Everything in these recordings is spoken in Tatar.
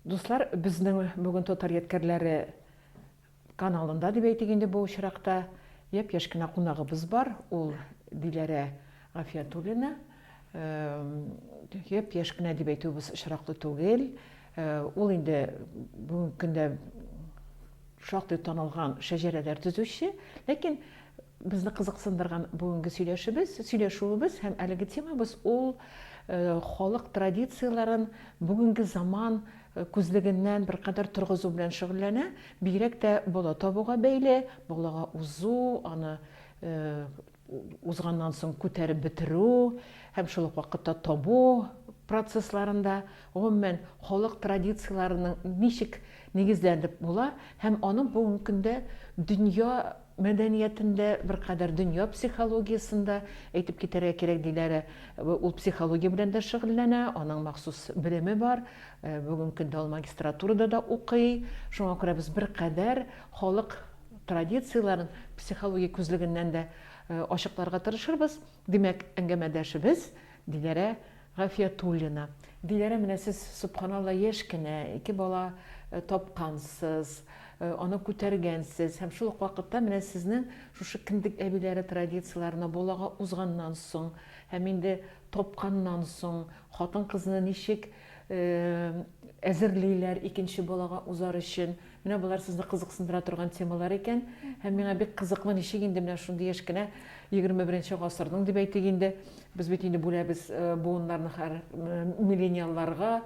Дуслар, безнең бүген Татар ядкәрләре каналында дип әйтик инде бу очракта япь-яшь кенә кунагыбыз бар, ул Диләрә Гафиятуллина. Япь-яшь кенә дип әйтүебез очраклы түгел. Ул инде бүгенге көндә шактый танылган шәҗәрәләр төзүче, ләкин Безне кызыксындырган бүгенге сөйләшебез, сөйләшүебез һәм әлеге темабыз ул халык традицияләрен бүгенге заман күзлегеннән беркадәр торгызу белән шөгыльләнә. Бигрәк тә бала табуга бәйле, балага узу, аны узганнан соң күтәреп бетерү һәм шул ук вакытта табу процессларында, гомумән, халык традицияләренең ничек нигезләнеп була һәм аның бүгенге көндә дөнья мәдәниятендә, беркадәр дөнья психологиясендә, әйтеп китәргә кирәк, Диләрә ул психология белән дә шөгыльләнә, аның махсус белеме бар, бүген көндә ул магистратурада да укый, шуңа күрә без беркадәр халык традицияләрен психология күзлегеннән дә ачыкларга тырышырбыз. Димәк, әңгәмәдәшебез Диләрә Гафиятуллина. Диләрә, менә сез, сөбханалла, яшь кенә, ике бала тапкансыз, аны күтәргәнсез һәм шул ук вакытта менә сезнең шушы кендек әбиләре традицияләренә балага узганнан соң һәм инде тапканнан соң хатын-кызны ничек әзерлиләр икенче балага узар өчен, Менә болар сезне кызыксындыра торган темалар икән. Һәм миңа бик кызыклы, ничек инде менә шундый яшь кенә 21 гасырның дип әйтик инде, без бит инде бүләбез буыннарны хәр миллениалларга,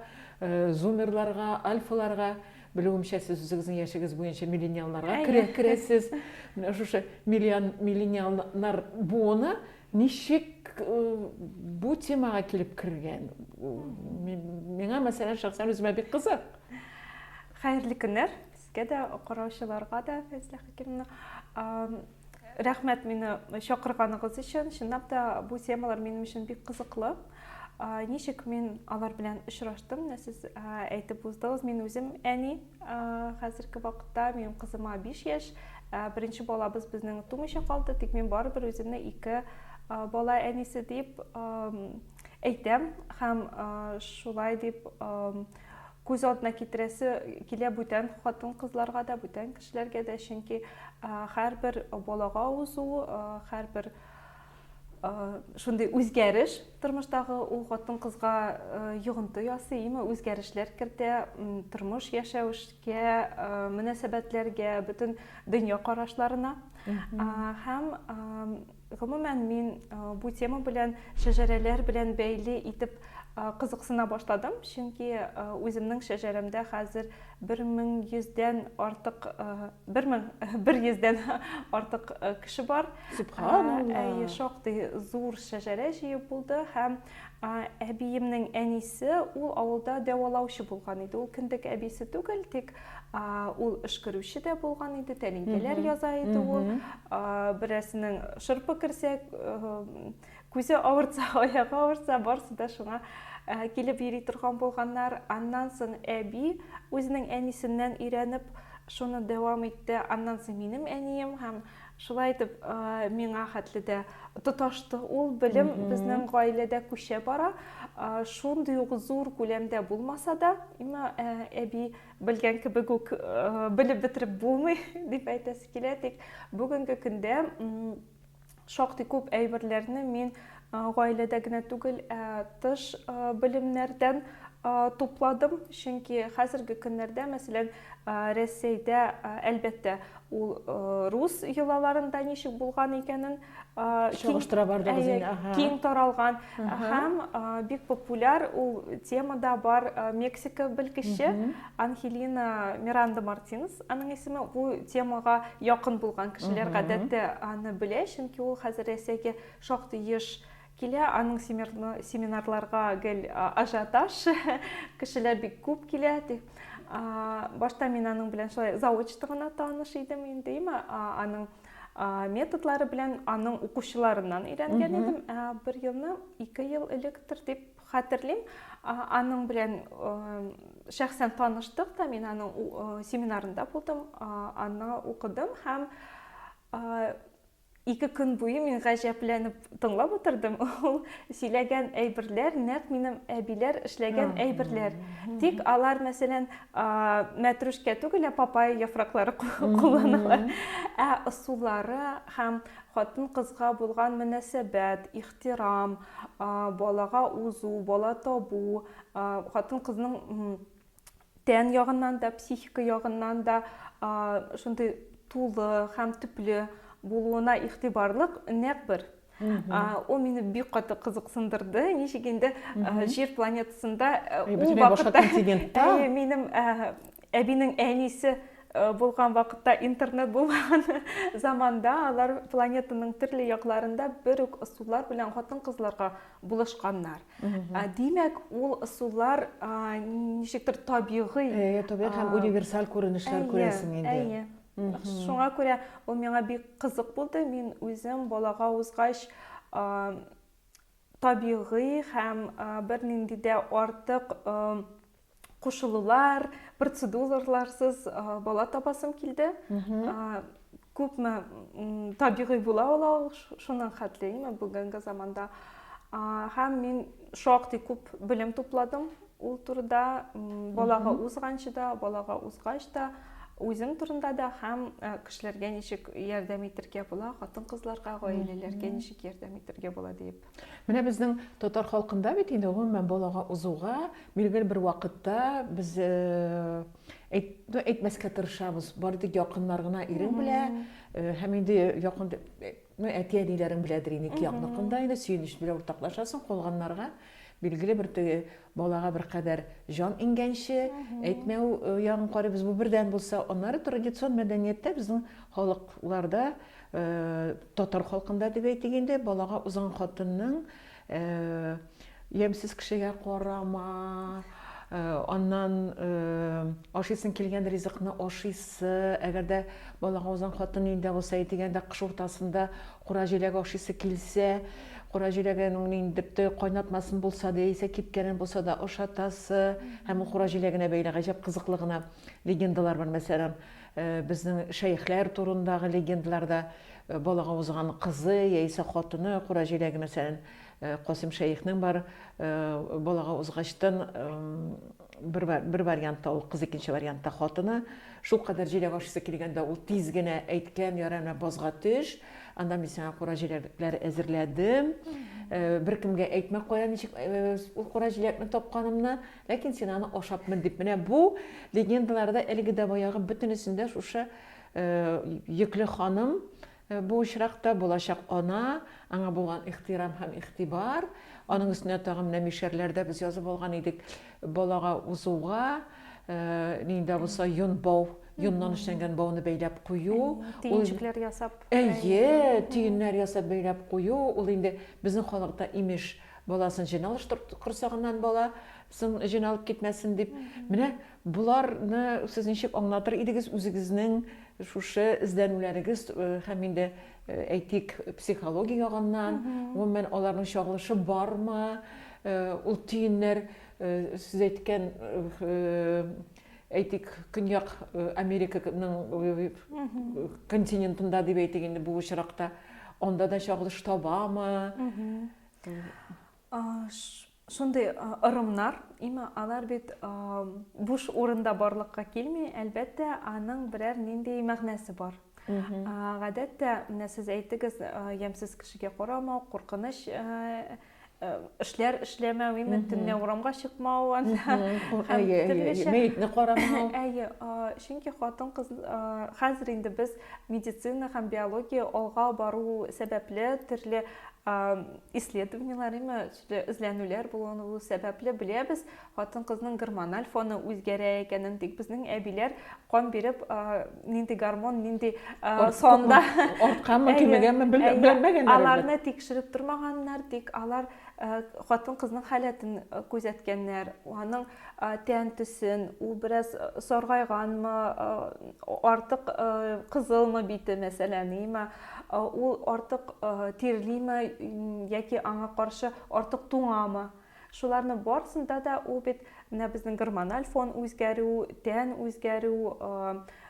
зумерларга, альфаларга, белүемчә, сез үзегезнең яшегез буенча миллениалларга керәсез. Менә шушы миллениалнар буыны Ничек бу темага килеп кергән? Миңа, мәсәлән, шәхсән үземә бик кызык. Хәерле көннәр сезгә дә, караучыларга да, Фәйзлә Хәкимовна. Рәхмәт мине чакырганыгыз өчен. Чынлап та бу темалар минем өчен бик кызыклы. Ничек мин алар белән очраштым? Сез әйтеп уздыгыз, мин үзем әни. Хәзерге вакытта минем кызыма 5 яшь. Беренче балабыз безнең тумыйча калды, тик мин барыбер үземне ике бала әнисе дип әйтәм һәм шулай дип күз алдына китерәсе килә бүтән хатын кызларга да, бүтән кешеләргә дә, чөнки һәрбер балага узу, һәрбер шундый үзгәреш тормыштагы ул хатын кызга йогынты ясыймы үзгәрешләр кертә тормыш яшәвешкә мөнәсәбәтләргә бөтен дөнья карашларына һәм гомумән мин бу тема белән шәҗәрәләр белән бәйле итеп кызыксына башладым чөнки үземнең шәҗәрәмдә хәзер Бер мең йөздән артык, бер мең бер йөздән артык кеше бар. Субханалла. Әйе, шактый зур шәҗәрә җыю булды һәм әбиемнең әнисе ул авылда дәвалаучы булган иде. Ул кендек әбисе түгел, тик ул эшкерүче дә булган иде, тәлинкәләр яза иде ул. Берәрсенең шырпы керсә, Күзе авыртса, аягы авыртса, барысы да шуңа килеп йөри торган булганнар. Аннан соң әби үзенең әнисеннән өйрәнеп, шуны дәвам итте. Аннан соң минем әнием һәм шулай итеп миңа хәтле дә тоташты ул белем безнең гаиләдә күчә бара. Шундый ук зур күләмдә булмаса да, имма әби белгән кебек үк белеп бетереп булмый дип әйтәсе килә. Тик бүгенге көндә шактый күп әйберләрне мин гаиләдә генә түгел, ә тыш белемнәрдән тупладым, чөнки хәзерге көннәрдә, мәсәлән, Рәсәйдә, әлбәттә, ул рус йолаларында ничек булган икәнен чагыштыра барды үзенә, киң таралган. Һәм бик популяр ул темада бар Мексика белгече Анхелина Миранда Мартинес, аның исеме бу темага якын булган кешеләр гадәттә аны белә, чөнки ул хәзер Рәсәйгә шактый еш килә, аның семинарларга гел ажиотаж, кешеләр бик күп килә, ди. Башта мин аның белән шулай заочно гына таныш идем инде, аның методлары белән аның укучыларыннан өйрәнгән идем. Бер елны, ике ел электр дип хәтерлим. Аның белән шәхсән таныштык та, мин аның семинарында булдым, аны укыдым һәм ике көн буе мин гаҗәпләнеп тыңлап утырдым, ул сөйләгән әйберләр нәкъ минем әбиләр эшләгән әйберләр. Тик алар, мәсәлән, мәтрүшкә түгел, ә папайя яфраклары кулланалар. Ә ысуллары һәм хатын-кызга булган мөнәсәбәт, ихтирам, балага узу, бала табу, хатын-кызның Тән ягыннан да, психика ягыннан да шундый тулы һәм төпле булуына игътибарлык нәкъ бер ул мине бик каты кызыксындырды ничек инде жер планетасында ул вакытта әйе минем әбинең әнисе булган вакытта интернет булмаган заманда алар планетаның төрле якларында бер үк ысуллар белән хатын кызларга булышканнар. Димәк, ул ысуллар ничектер табигый. Әйе, табигый һәм универсаль күренешләр күрәсең инде. Әйе. Шуңа күрә ул миңа бик кызык булды. Мин үзем балага узгач табигый һәм бернинди дә артык кушылулар, процедураларсыз бала табасым килде. Күпме табигый була ул ау, шуның хәтлейме бүгенге заманда. Һәм мин шактый күп белем тупладым ул турыда, балага узганчы да, балага узгач та, үзем турында да һәм кешеләргә ничек ярдәм итергә була, хатын-кызларга, гаиләләргә ничек ярдәм итергә була дип. Менә безнең татар халкында бит инде гомумән балага узуга билгеле бер вакытта без әйт, ну, әйтмәскә тырышабыз. Бары тик якыннар гына ирең белә һәм инде якын ну, әти әниләрең беләдер инде ике якныкында инде сөенеч белән уртаклашасың, калганнарга билгеле бер теге Балага беркадәр җан иңгәнче, әйтмәү ягын карыйбыз, бу бердән булса. Аннары традицион мәдәнияттә безнең халыкларда, татар халкында дип әйтик инде, балага узган хатынның ямьсез кешегә карама, аннан ашыйсың килгән ризыкны ашыйсы, әгәр дә балага узган хатын өендә булса, әйтик, әйдә, кыш уртасында кура җиләк ашыйсы килсә, Кара җиләген ул нинди дип тә кайнатмасын булса да, яисә кипкәнен булса да ашатасы һәм ул кара җиләгенә бәйле гаҗәп кызыклы гына легендалар бар. Мәсәлән, безнең шәехләр турындагы легендаларда балага узган кызы яисә хатыны кара җиләге, мәсәлән, Касыйм шәехнең бар, балага узгачтын Бер, бер вариантта ул кыз, икенче вариантта хатыны. Шул кадәр җиләк ашыйсы килгәндә ул тиз генә әйткән, ярай менә базга төш, анда мин сиңа кура җиләкләр әзерләдем. Э, бер кемгә әйтмә кая ничек э, ул кура җиләкне тапканымны, ләкин син аны ашапмын дип. Менә бу легендаларда әлеге дә баягы бөтенесендә шушы э, йөкле ханым Бу очракта булачак ана, аңа булган ихтирам һәм игътибар, аның өстенә тагын менә мишәрләр дә без язып алган идек, балага узуга, нинди дә булса йон бау, йоннан эшләнгән бауны бәйләп кую, төенчекләр ясап. Әйе, төеннәр ясап бәйләп кую, ул инде безнең халыкта имеш, баласын җен алыштыр корсагыннан бала сын җен алып китмәсен дип. Менә боларны сез ничек аңлатыр идегез үзегезнең Шушы эзләнүләрегез һәм инде, әйтик, психология ягыннан, гомумән, аларның чагылышы бармы? Ул төеннәр, сез әйткән, әйтик, Көньяк Американың континентында, дип әйтик инде бу очракта, анда да чагылыш табамы? Шундый ырымнар, имма алар бит буш урында барлыкка килми, әлбәттә, аның берәр нинди мәгънәсе бар. Гадәттә, менә сез әйтегез, ямьсез кешегә карамау, куркыныч эшләр эшләмәү, именно төнлә урамга чыкмау анда. Әйе, әйе, мәетне карамау. Әйе, чөнки хатын-кыз хәзер инде без медицина һәм биология алга бару сәбәпле төрле исследованиеләр, именно Төрле эзләнүләр булуын ул сәбәпле беләбез. Хатын-кызның гормональ фоны үзгәрә икәнен, тик безнең әбиләр кан биреп, нинди гормон, нинди санда, артканмы, кимегәнме, белмәгәннәр. Аларны тикшереп тормаганнар, тик алар хатын-кызның халәтен күзәткәннәр, аның тән төсен, ул бераз саргайганмы, артык кызылмы бите, мәсәлән, има, ул артык тирлиме яки аңа каршы артык туңамы? Шуларның барысында да ул бит менә безнең гормональ фон үзгәрү, тән үзгәрү,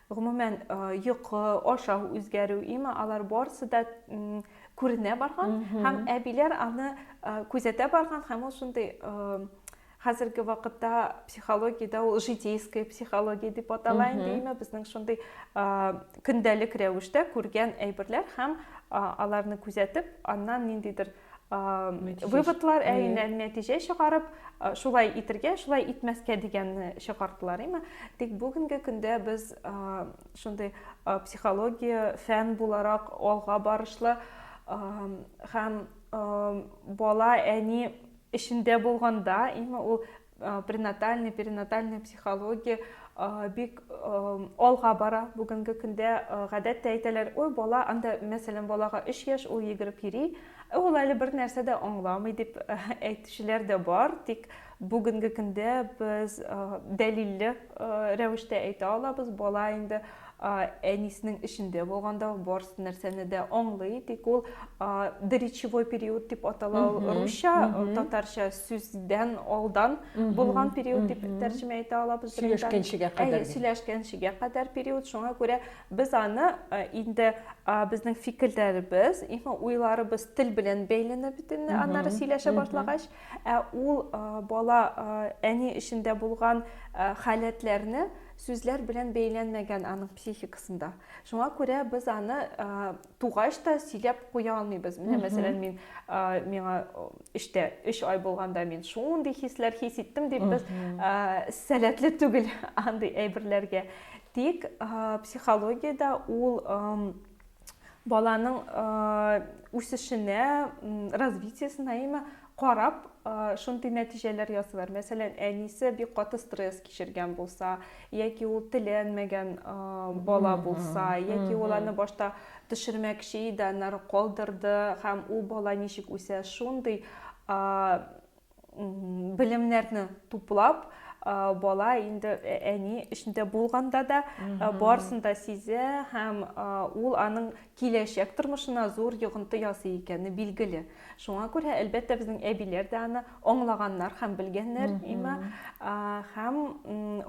гомумән йокы, ашау үзгәрү, има, алар барысы да күренә барган һәм әбиләр аны күзәтә барган һәм ул шундый Хәзерге вакытта психологиядә ул житейская психология дип атала инде име безнең шундый көндәлек рәвештә күргән әйберләр һәм аларны күзәтеп аннан ниндидер выводлар әйнән нәтиҗә чыгарып шулай итергә шулай итмәскә дигәнне чыгардылар име тик бүгенге көндә без шундый психология фән буларак алга барышлы һәм бала әни эчендә булганда именно ул пренатальный перинатальный психология бик алга бара бүгенге көндә гадәттә әйтәләр ой бала анда мәсәлән балага 3 яшь ул йөгереп йөри ә ул әле бер нәрсә дә аңламый дип әйтүчеләр дә бар тик бүгенге көндә без дәлилле рәвештә әйтә алабыз бала инде А, Әниснең эчендә булганда ул барс нәрсәне дә аңлый, тик ул а, доречевой период дип атала, ул русча, татарча сүздән алдан булган период дип тәрҗемә итә алабыз. Сөйләшкәнчегә кадәр. Сөйләшкәнчегә кадәр период, шуңа күрә без аны а, инде а, безнең фикерләребез, именно уйларыбыз тел белән бәйләнә бит инде, аннары сөйләшә башлагач, ә ул а, бала а, әни эчендә булган а, халәтләрне Сүзләр белән бәйләнмәгән аның психикасында. Шуңа күрә без аны тугач та сөйләп куя алмыйбыз. Менә мәсәлән, мин миңа эштә 3 ай булганда мин шундый хисләр хис иттем дип без сәләтле түгел андый әйберләргә. Тик психологиядә ул баланың үсешенә, развитиесенә имә карап шундый нәтиҗәләр ясыйлар. Мәсәлән, әнисе бик каты стресс кичергән булса, яки ул теләнмәгән бала булса, яки ул аны башта төшермәкче иде, аннары калдырды һәм ул бала ничек үсә, шундый белемнәрне туплап бала инде ә, әни эчендә булганда да барсын да сизә һәм ул аның киләчәк тормышына зур йогынты ясый икәне билгеле шуңа күрә әлбәттә безнең әбиләр дә аны аңлаганнар һәм белгәннәр има һәм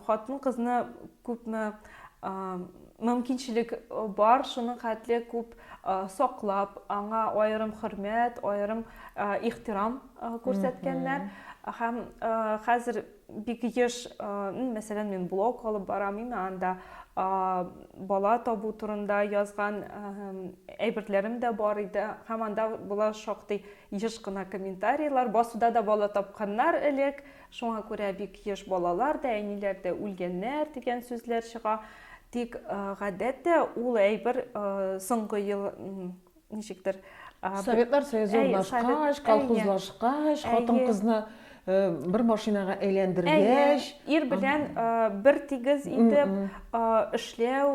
хатын кызны күпме мөмкинчелек бар шуның хәтле күп саклап аңа аерым хөрмәт аерым ихтирам күрсәткәннәр һәм хәзер бик еш мәсәлән мин блог алып барам инде анда бала табу турында язган әйберләрем дә бар иде һәм анда була шактый еш кына комментарийлар басуда да бала тапканнар элек шуңа күрә бик еш балалар да әниләр дә үлгәннәр дигән сүзләр чыга тик гадәттә ул әйбер соңгы ел ничектер Советлар Союзы урнашкач, колхозлашкач, хатын-кызны бер машинага әйләндергәч, ир белән бер тигез итеп эшләү,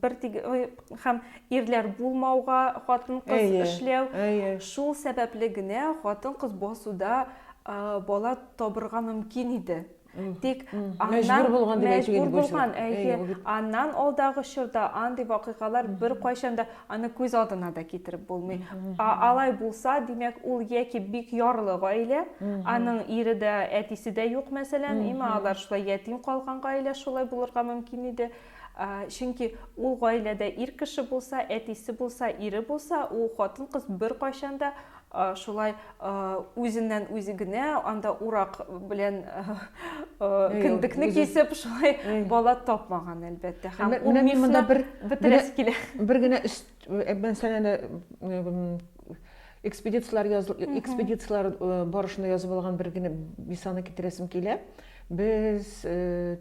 бер тигез һәм ирләр булмауга хатын-кыз эшләү. Шул сәбәпле генә хатын-кыз басуда бала табырга мөмкин иде. Тик мәҗбүр булган дип әйтү инде булган, әйе. Аннан алдагы чорда андый вакыйгалар бер кайчан да аны күз алдына да китереп булмый. Алай булса, димәк, ул яки бик ярлы гаилә, аның ире дә, әтисе дә юк, мәсәлән, имә алар шулай ятим калган гаилә шулай булырга мөмкин иде. Чөнки ул гаиләдә ир кеше булса, әтисе булса, ире булса, ул хатын-кыз бер кайчан да Шулай үзеннән үзе генә анда урак белән кендекне кисеп, шулай бала тапмаган, әлбәттә. Һәм ул мифны бетерәсе килә. Бер генә мәсьәләне экспедицияләр экспедицияләр барышында язып алган бер генә мисалны китерәсем килә. Без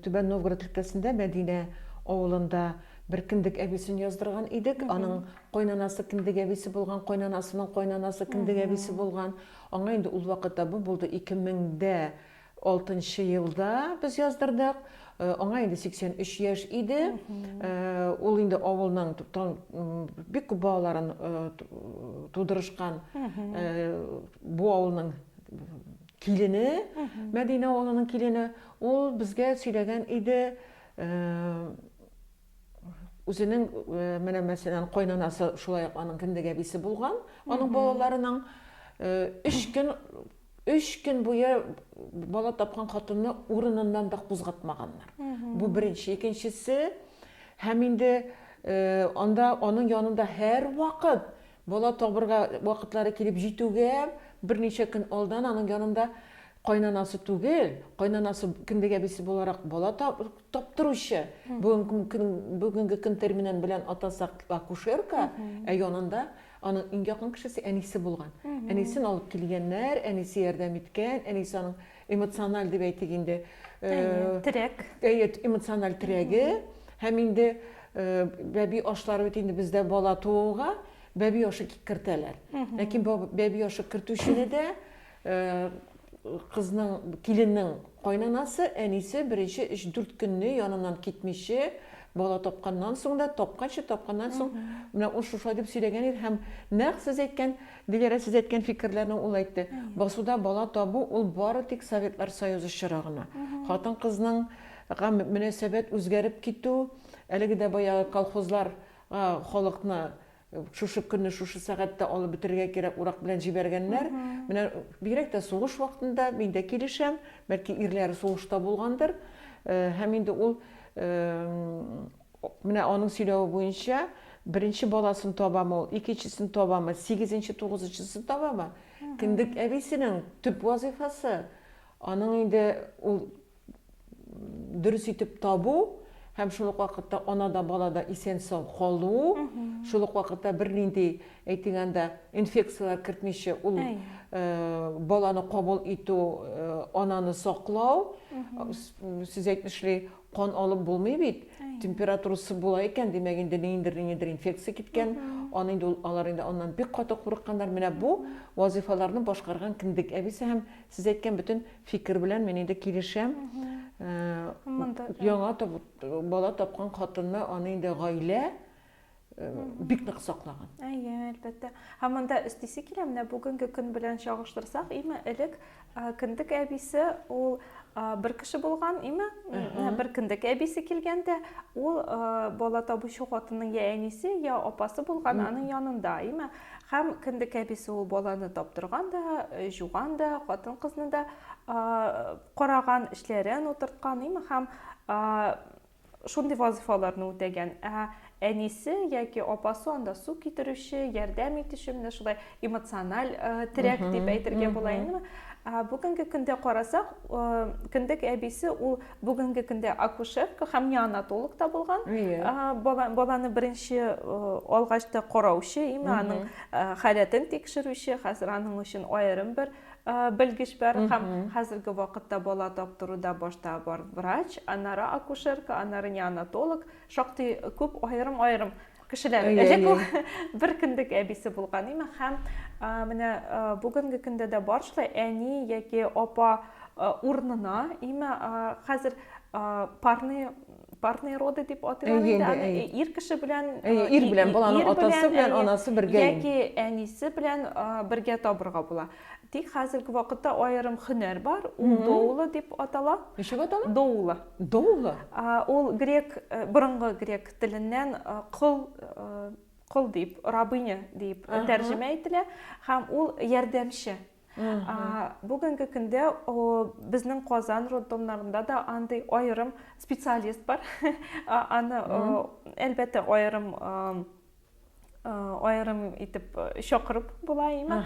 Түбән Новгород өлкәсендә Мәдинә авылында бер кендек әбисен яздырган идек. Аның Кайнанасы кендек әбисе булган, кайнанасының кайнанасы кендек әбисе булган. Аңа инде ул вакытта бу булды 2006 нчы елда без яздырдык. Аңа инде 83 яшь иде. Ул инде авылның бик күп балаларын тудырышкан бу авылның килене, Мәдинә авылының килене. Ул безгә сөйләгән иде, Үзенең менәмәсеннән кайнанасы шулай ук аның кендек әбисе булган, аның балаларының өч көн өч көн буе бала тапкан хатынны урыныннан да кузгатмаганнар. Бу беренче, икенчесе һәм инде анда аның янында һәр вакыт Бала табырга вакытлары килеп җитүгә берничә көн алдан аның янында кайнанасы түгел, кайнанасы кендек әбисе буларак бала таптыручы, бүгенге көн терминын белән атасак, акушерка, ә янында аның иң якын кешесе әнисе булган. Әнисен алып килгәннәр, әнисе ярдәм иткән, әнисе аның эмоциональ дип әйтик инде э, терәк әйе эмоциональ терәге һәм инде э, бәби ашлары бит инде бездә бала тууга бәби ашы кертәләр ләкин бәби ашы кертүчене дә э, кызның киленнең кайнанасы әнисе беренче өч дүрт көнне яныннан китмичә бала тапканнан соң да тапканчы тапканнан соң менә ул шушылай дип сөйләгән иде һәм нәкъ сез әйткән Диләрә, сез әйткән фикерләрне ул әйтте. Басуда бала табу, ул бары тик Советлар Союзы чоры гына. Хатын-кызның га мөнәсәбәт үзгәреп китү, әлеге дә баягы колхозлар га халыкны шушы көнне, шушы сәгатьтә алып бетерергә кирәк, урак белән җибәргәннәр. Менә бигрәк тә сугыш вакытында, мин дә килешәм, бәлки ирләре сугышта булгандыр. Һәм инде ул Менә аның сөйләве буенча, беренче баласын табамы ул, икенчесен табамы, сигезенче, тугызынчысын табамы? Кендек әбисенең төп вазыйфасы, аның инде ул дөрес итеп табу һәм шул ук вакытта ана да, бала да исән-сау калу, шул ук вакытта бернинди, әйтик анда, инфекцияләр кертмичә ул баланы кабул итү, ананы саклау, сүз әйтмешли, Кан алып булмый бит, температурасы була икән, димәк инде ниндер-ниндер инфекция киткән, аны инде ул, алар инде аннан бик каты курыкканнар, менә бу вазыйфаларны башкарган кендек әбисе һәм сез әйткән бөтен фикер белән мин инде килешәм, яңа бала тапкан хатынны аны инде гаилә, бик нык саклаган. Әйе, әлбәттә. Һәм монда өстисе килә, менә бүгенге көн белән чагыштырсак, име элек кендек әбисе ул бер кеше булган, име? Бер кендек әбисе килгәндә, ул бала табучы хатынның я әнисе, я апасы булган, аның янында, име? Һәм кендек әбисе ул баланы таптырган да, жуган да, хатын-кызны да караган, эшләрен утырткан, име? Һәм шундый вазыйфаларны үтәгән. Ә әнисе яки апасы анда су китерүче, ярдәм итүче, менә шулай эмоциональ терәк дип әйтергә була инде. Бүгенге көндә карасак, кендек әбисе ул бүгенге көндә акушерка һәм неонатолог та булган. Баланы беренче алгач та караучы, именно аның халәтен тикшерүче, хәзер аның өчен аерым бер белгеч бар һәм хәзерге вакытта бала таптыруда башта бар врач, аннары акушерка, аннары неонатолог, шактый күп аерым-аерым кешеләр. Элек ул бер кендек әбисе булган име һәм менә бүгенге көндә дә бар шулай әни яки апа урынына име хәзер парный парные роды дип атыйлар инде аны ир кеше белән ир белән баланың атасы белән анасы бергә яки әнисе белән бергә табырга була тик хәзерге вакытта аерым хөнәр бар ул доула дип атала ничек атала доула доула ул грек борынгы грек теленнән кол кол дип рабыня дип тәрҗемә ителә һәм ул ярдәмче бүгенге көндә безнең казан роддомнарында да андый аерым специалист бар аны әлбәттә аерым аерым итеп чакырып була имә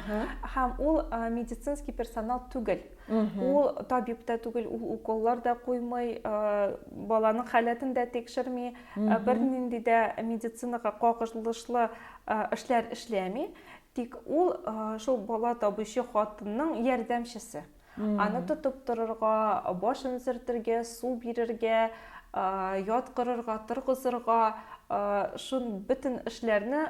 һәм ул медицинский персонал түгел ул табиб та түгел ул уколлар да куймый баланың халәтен дә тикшерми бернинди дә медицинаға кагылышлы эшләр эшләми Тик ул шул бала табучы хатынның ярдәмчесе. Аны тотып торырга, башын сөртергә, су бирергә, яткырырга, торгызырга, шун бөтен эшләрне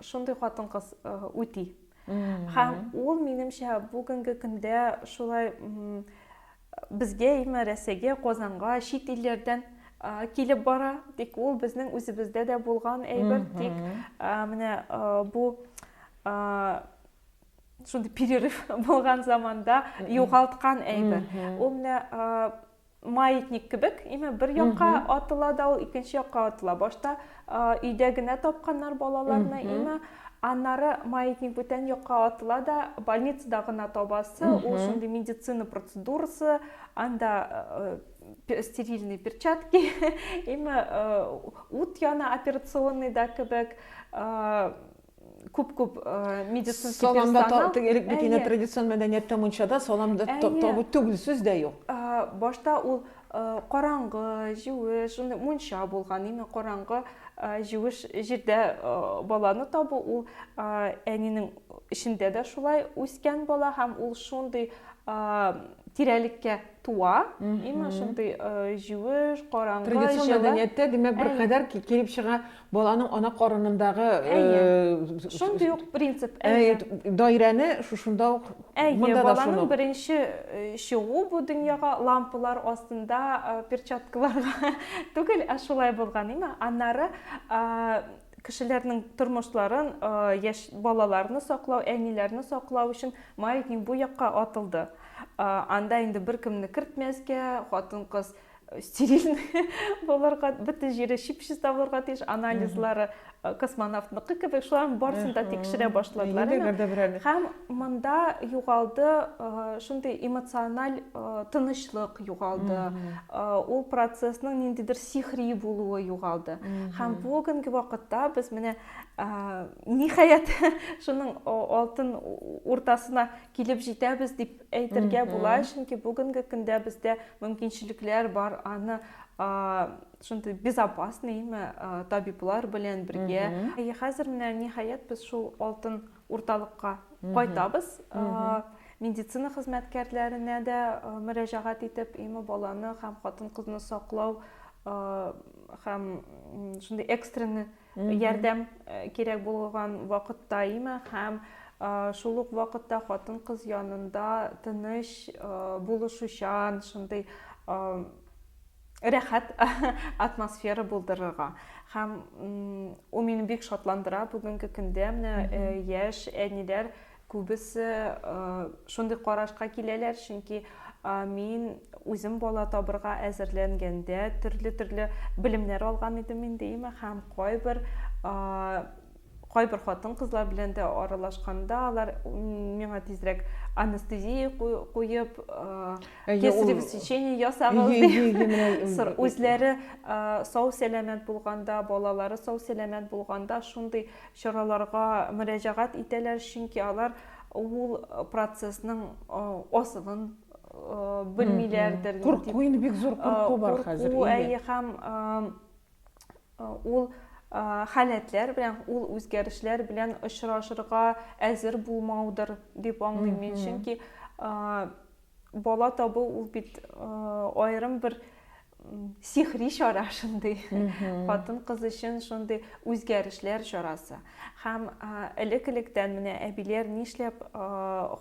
шундый хатын-кыз үти. Һәм ул, минемчә, бүгенге көндә шулай Безгә име, Рәсәйгә, Казанга чит илләрдән килеп бара, тик ул безнең үзебездә дә булган әйбер, тик менә бу шундый перерыв булган заманда югалткан әйбер. Ул менә маятник кебек, име бер якка атыла да ул икенче якка атыла. Башта Өйдә генә тапканнар балаларны имә. Аннары маятник бүтән якка атыла да, больницада гына табасы, ул шундый медицина процедурасы, анда стерильный перчатки, имә ут яна операционныйда кебек, күп күп медицинский саламда элек бит инде традицион мәдәнияттә мунчада саламда табу түгел сүз дә юк башта ул караңгы җүеш шундый мунча булган именно караңгы җүеш җирдә баланы табу ул әнинең эчендә дә шулай үскән бала һәм ул шундый тирәлеккә туа именно шундый җүеш караңгы традицион мәдәнияттә димәк бер кадәр килеп чыга Баланың ана карынындагы Әйе. Шундый ук принцип. Әйе. Даирәне шушында ук Әйе, монда да баланың шуны. беренче э, чыгу бу дөньяга лампалар астында э, перчаткаларга түгел, ә шулай булган, име? Аннары а, кешеләрнең тормышларын, а, яшь балаларны саклау, әниләрне саклау өчен маятник бу якка атылды. А, анда инде беркемне кертмәскә, хатын-кыз стерильный булырга бөтен җире чип чиста булырга тиеш анализлары э, космонавтныкы кебек шуларның барысын да тикшерә башладылар һәм монда югалды э, шундый эмоциональ э, тынычлык югалды ул процессның ниндидер сихри булуы югалды һәм бүгенге вакытта без менә ниһаять шуның алтын уртасына килеп җитәбез дип әйтергә була, чөнки бүгенге көндә бездә мөмкинчелекләр бар, аны шундый безопасныймы табиблар белән бергә. Әйе, хәзер менә ниһаять без шул алтын урталыкка кайтабыз. Медицина хезмәткәрләренә дә мөрәҗәгать итеп, имы баланы һәм хатын-кызны саклау һәм шундый экстренный ярдәм кирәк булган вакытта имә һәм шул ук вакытта хатын кыз янында тыныч булышучан шундый рәхәт атмосфера булдырырга һәм ул мине бик шатландыра бүгенге көндә менә яшь әниләр Күбесе шундый карашка киләләр, чөнки мин үзем бала табырга әзерләнгәндә төрле-төрле белемнәр алган идем инде имә һәм кайбер кайбер хатын-кызлар белән дә аралашканда алар миңа тизрәк анестезия куеп, кесарево сечение ясагыз дип. Үзләре сау-сәламәт булганда, балалары сау-сәламәт булганда шундый чараларга мөрәҗәгать итәләр, чөнки алар ул процессның асылын белмиләрдер. Курку, инде бик зур курку бар хәзер. Курку, әйе, һәм ул халәтләр белән, ул үзгәрешләр белән очрашырга әзер булмаудыр дип аңлыйм мин, чөнки бала табу ул бит аерым бер сихри чара шундый хатын кыз өчен шундый үзгәрешләр чарасы һәм элек электән менә әбиләр нишләп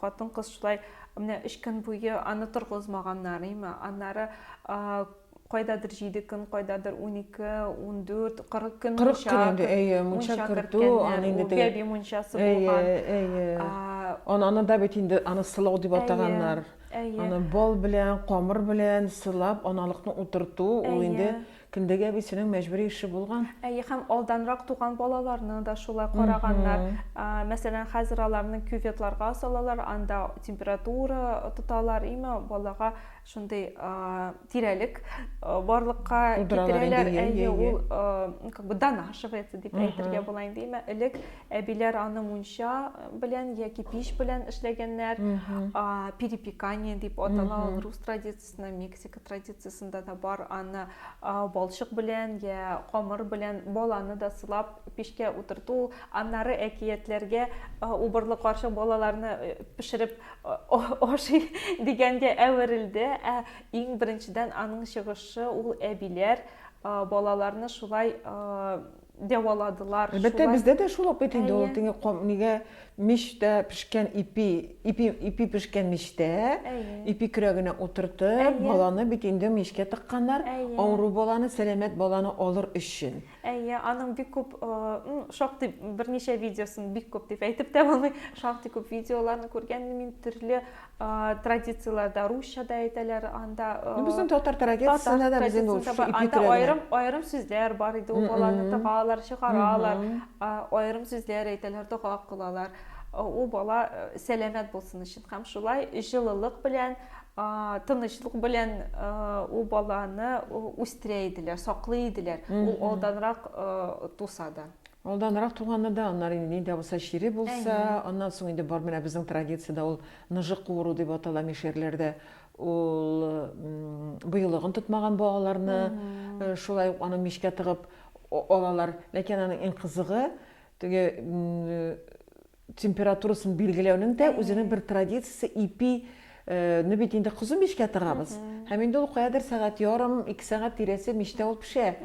хатын кыз шулай менә өч көн буе аны торгызмаганнар име аннары кайдадыр җиде көн кайдадыр унике ундүрт кырык көн кырык көн инде әйе мунча кертү аны инде бәби мунчасы булган әйе әйе ананы да бит инде аны сылау дип атаганнар Әйе. Аны бал белән, камыр белән сылап, аналыкны утырту, ул инде Кендәгә әбисенең мәҗбүри эше булган. Әйе, һәм алданрак туган балаларны да шулай караганнар. Мәсәлән, хәзер аларны кюветларга салалар, анда температура тоталар, име балага шундый тирәлек барлыкка китерәләр. Әйе, ул как бы донашивается дип әйтергә була инде. Имә элек әбиләр аны мунча белән яки пич белән эшләгәннәр. Перепекание дип атала ул рус традициясендә, Мексика традициясендә дә бар. Аны балчык белән я камыр белән баланы да сылап пичкә утырту, аннары әкиятләргә убырлы карчык балаларны пешереп ашый дигәнгә әверелде. Ә Иң беренчедән аның чыгышы ул әбиләр балаларны шулай дәваладылар. Әлбәттә, бездә дә шул ук бит инде ул теге нигә мичтә пешкән ипи, ипи, ипи пешкән мичтә, ипи көрәгенә утыртып, баланы бит инде мичкә тыкканнар, авыру баланы, сәламәт баланы алыр өчен. Әйе, аның бик күп, ну, шактый берничә видеосын бик күп дип әйтеп тә булмый, шактый күп видеоларны күргән мин төрле традицияләрдә, русча да әйтәләр анда. Ну, безнең татар традициясендә дә безнең ул шушы ипи Анда аерым аерым сүзләр бар иде, ул баланы тыгалар, чыгаралар, аерым сүзләр әйтәләр, дога кылалар. Ул бала сәламәт булсын өчен һәм шулай җылылык белән тынычлык белән ул баланы үстерә иделәр саклый иделәр ул алданрак туса да алданрак туганы да аннары инде ни дә булса чире булса аннан соң инде бар менә безнең традициядә ул ныжык куыру дип атала мишәрләрдә ул быелыгын тотмаган балаларны шулай ук аны мичкә тыгып алалар ләкин аның иң кызыгы теге температурасын билгеләүнең дә үзенең бер традициясе, ипи не бит инде кызу мичкә тыгабыз. Һәм инде ул каядыр сәгать ярым, ике сәгать тирәсе мичтә ул пешә.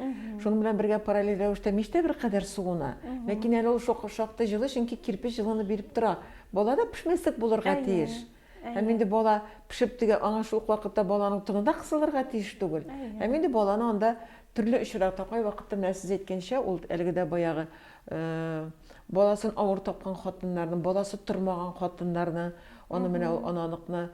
Шуның белән бергә параллель рәвештә мич тә беркадәр суына. Ләкин әле ул шактый җылы, чөнки кирпеч җылыны биреп тора. Бала да пешмәслек булырга тиеш. Һәм инде бала пешеп дигән, аңа шул ук вакытта баланың тыны да кысылырга тиеш түгел. Һәм инде баланы анда төрле очракта, кайвакытта менә сез әйткәнчә, ул әлеге дә баягы баласын авыр тапкан хатыннарны, баласы тормаган хатыннарны, аны менә ул ананыкны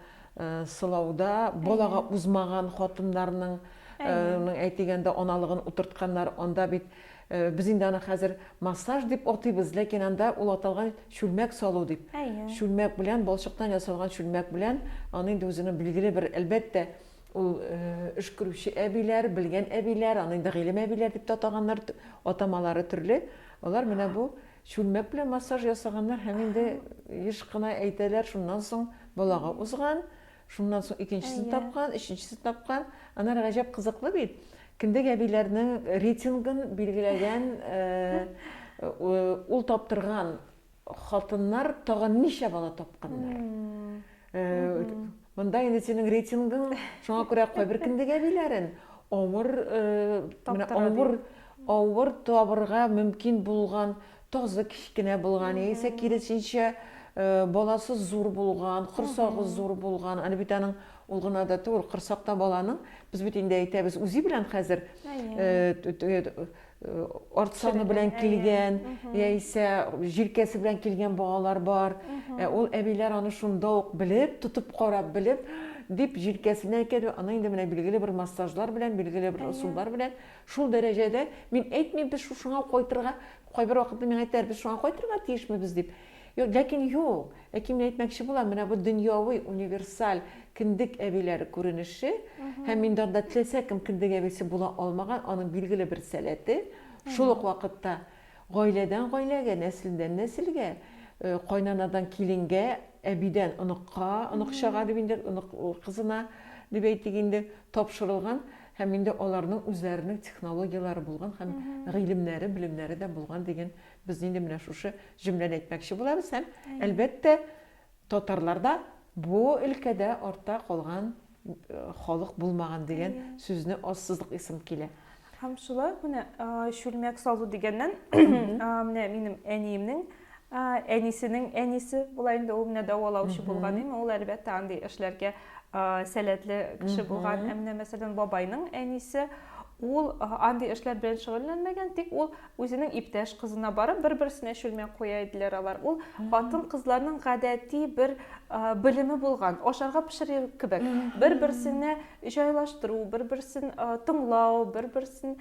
сылауда балага узмаган хатыннарның әйтегәндә аналыгын утыртканнар, анда бит Без инде аны хәзер массаж дип атыйбыз, ләкин анда ул аталган чүлмәк салу дип. Әйе. Чүлмәк белән, балчыктан ясалган чүлмәк белән, аны инде үзенең билгеле бер, әлбәттә, ул эш күрүче әбиләр, белгән әбиләр, аны инде гыйлем әбиләр дип тә атаганнар, атамалары төрле, алар менә бу чүлмәк белән массаж ясаганнар һәм инде еш кына әйтәләр, шуннан соң балага узган, Шуннан соң икенчесен Әйе. тапкан, өченчесен тапкан. Анар гаҗәп кызыклы бит. Кендек әбиләрнең рейтингын билгеләгән э, э, ул таптырган хатыннар тагын ничә бала тапканнар. Э, Монда инде синең рейтингың, шуңа күрә кайбер кендек әбиләрен авыр э, менә Таптыра, ди. авыр авыр табырга мөмкин булган Тазы кечкенә булган яисә киресенчә, баласы зур булган, корсагы зур булган. Аны бит аның ул гына да түгел, корсакта баланың, без бит инде әйтәбез, үзе белән хәзер арт саны белән килгән, яисә җилкәсе белән килгән балалар бар. Ә ул әбиләр аны шунда ук белеп, тотып карап белеп, дип җилкәсенә икәде, аны инде менә билгеле бер массажлар белән, билгеле бер ысуллар белән Шул дәрәҗәдә, мин әйтмим, без шушыңа ук кайтырга, кайбер вакытта миңа әйтәләр, без шуңа кайтырга тиешмебез дип. Юк, ләкин юк. Ләкин мин әйтмәкче булам, менә бу дөньяви, универсаль кендек әбиләре күренеше, һәм инде анда теләсә кем кендек әбисе була алмаган, аның билгеле бер сәләте, шул ук вакытта гаиләдән гаиләгә, нәселдән нәселгә, кайнанадан киленгә, әбидән оныкка, оныкчага дип инде, онык кызына дип әйтик инде, тапшырылган Һәм инде аларның үзләренең технологияләре булган һәм гыйлемнәре, белемнәре дә булган дигән без инде менә шушы җөмләне әйтмәкче булабыз һәм, әлбәттә, татарлар да бу өлкәдә артта калган халык булмаган дигән сүзне ассызык исем килә. Һәм шулай ук менә чүлмәк салу дигәннән, менә минем әниемнең Әнисенең әнисе була инде, ул менә дәвалаучы булган име, ул әлбәттә андый эшләргә сәләтле кеше булган. Ә менә мәсәлән бабайның әнисе ул андый эшләр белән шөгыльләнмәгән, тик ул үзенең иптәш кызына барып бер-берсенә чүлмәк куя иделәр алар. Ул хатын-кызларның гадәти бер белеме булган, ашарга пешерер кебек. Бер-берсенә җайлаштыру, бер-берсен тыңлау, бер-берсен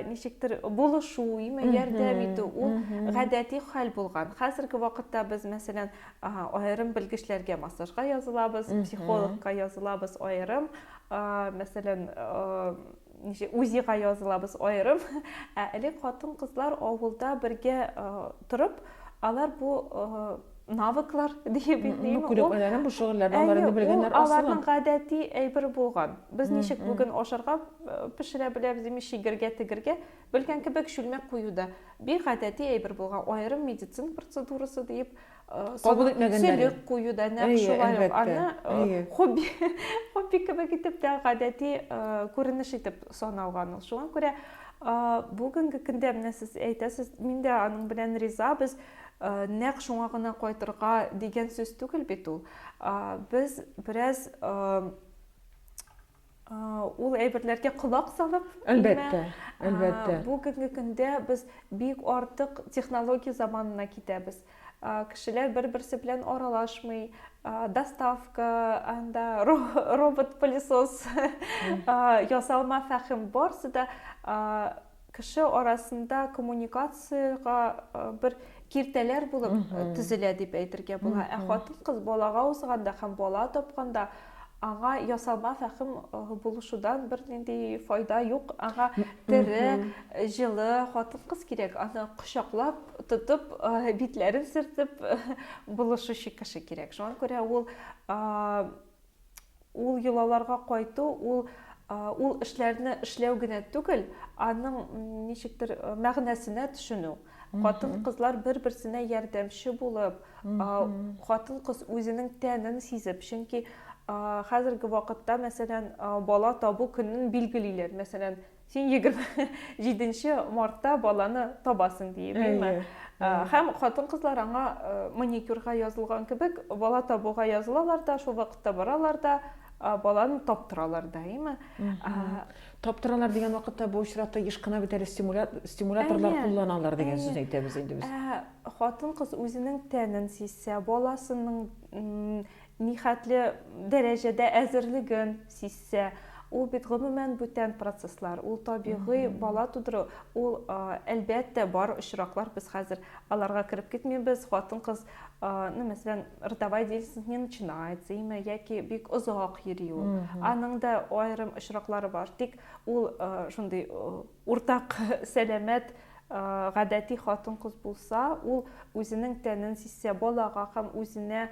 ничектер булышу именно ярдәм итү ул гадәти хәл булган хәзерге вакытта без мәсәлән аерым белгечләргә массажга язылабыз психологка язылабыз аерым мәсәлән ничек узига язылабыз аерым ә элек хатын кызлар авылда бергә торып алар бу навыклар диеп әйтмим. Бу күнекмәләрен, бу шөгыльләрне аларны белгәннәр асылы. Аларның гадәти әйбер булган. Без ничек бүген ашарга пешерә беләбез, дими чигергә, тегергә белгән кебек чүлмәк кую да бик гадәти әйбер булган. Аерым медицина процедурасы диеп кабул итмәгәннәр. Сөлек кую да нәкъ шулай ук аны хобби хобби кебек итеп тә гадәти күренеш итеп саналган ул. Шуңа күрә бүгенге көндә менә сез әйтәсез, мин дә аның белән риза, без Э, нәкъ шуңа гына кайтырга дигән сүз түгел бит ул э, без бераз э, ул әйберләргә колак салып әлбәттә әлбәттә бүгенге көндә без бик артык технология заманына китәбез кешеләр бер берсе белән аралашмый доставка анда робот пылесос ясалма фәхим барсы да кеше арасында коммуникациягә бер киртәләр булып төзелә дип әйтергә була. Ә хатын-кыз балага узганда һәм бала тапканда аңа ясалма фәхим булышудан бер нинди файда юк. Аңа тере, җылы хатын-кыз кирәк. Аны кочаклап, тотып, битләрен сөртеп булышучы кеше кирәк. Шуңа күрә ул Ул йолаларга кайту, ул ул эшләрне эшләү генә түгел, аның ничектер мәгънәсенә төшенү. Хатын-кызлар бер-берсенә ярдәмче булып, хатын-кыз үзенең тәнен сизеп, чөнки хәзерге вакытта, мәсәлән, бала табу көнен билгелиләр. Мәсәлән, Син 27 мартта баланы табасың диеме? Һәм хатын-кызлар аңа маникюрга язылган кебек, бала табуга язылалар да, шул вакытта баралар да, баланы таптыралар да, әйме? Таптыралар дигән вакытта бу очракта еш кына бит әле стимуляторлар кулланалар дигән сүзне әйтәбез инде без. Хатын-кыз үзенең тәнен сизсә, баласының нихәтле дәрәҗәдә әзерлеген сизсә, ул бит гомумән бүтән процесслар, ул табигый бала тудыру, ул, әлбәттә, бар очраклар, без хәзер аларга кереп китмибез, хатын-кыз, ну, мәсәлән, родовая деятельность не начинается име, яки бик озак йөри ул, аның да аерым очраклары бар, тик ул шундый, Уртак сәламәт, гадәти хатын-кыз булса, ул үзенең тәнен сизсә, балага һәм үзенә